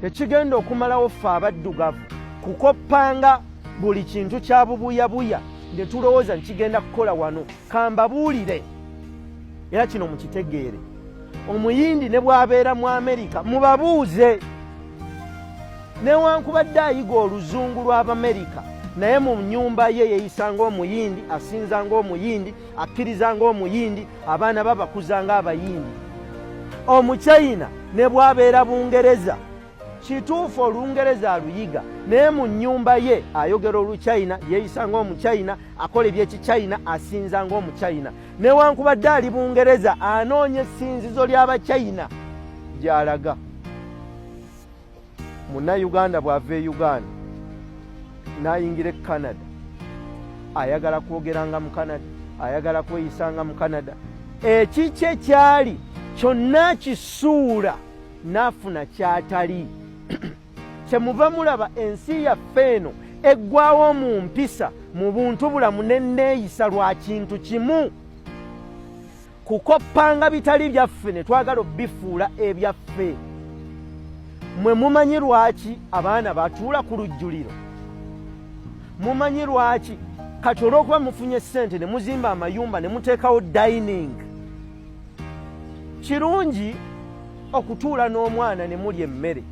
ekigenda okumalawo ffe abaddugavu kukoppanga buli kintu kya bubuyabuya ne tulowooza nti kigenda kukola wano kambabuulire era kino mukitegeere omuyindi ne bw'abeera mu amerika mubabuuze newankubadde ayiga oluzungu lw'abamerika naye mu nyumba ye yeyisa ngaomuyindi asinza ngaomuyindi akkiriza ng'omuyindi abaana babakuza ng'abayindi omuchina ne bwabeera bungereza kituufu olungereza aluyiga naye mu nnyumba ye ayogera oluchina yeeyisa ng'omuchina akola ebyekichina asinza ng'omuchina newankubadde ali bungereza anoonya essinzizo ly'abachina gy'alaga munnayuganda bw'ava e uganda n'ayingira e canada ayagala kwogeranga mu canada ayagala kweyisanga mu canada ekikye kyali kyonna kisuula n'afuna kyatali kyemuva mulaba ensi yaffe eno eggwawo mu mpisa mu buntu bulamu nenneeyisa lwa kintu kimu kukoppanga bitali byaffe ne twagala obifuula ebyaffe mwe mumanyi lwaki abaana batuula ku lujjuliro mumanyi lwaki kati olw'okuba mufunye ssente ne muzimba amayumba ne muteekawo dining kirungi okutuula n'omwana ne mulya emmere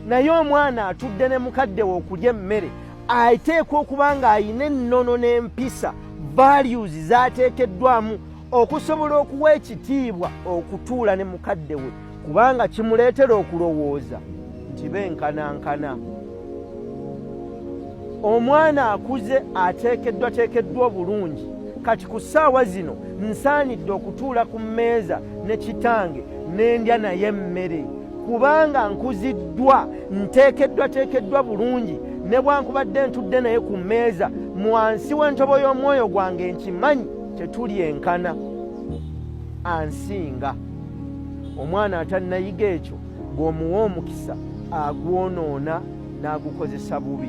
naye omwana atudde ne mukadde we okulya emmere ateekwa okuba ng'alina ennono n'empisa values zaateekeddwamu okusobola okuwa ekitiibwa okutuula ne mukadde we kubanga kimuleetera okulowooza nti benkanankana omwana akuze ateekeddwateekeddwa obulungi kati ku ssaawa zino nsaanidde okutuula ku mmeeza ne kitange n'endya naye emmere kubanga nkuziddwa nteekeddwa teekeddwa bulungi ne bwankubadde ntudde naye ku mmeeza mu wansi w'entobo y'omwoyo gwange nkimanyi tetuli enkana ansinga omwana atannayiga ekyo bw'omuwa omukisa agwonoona n'agukozesa bubi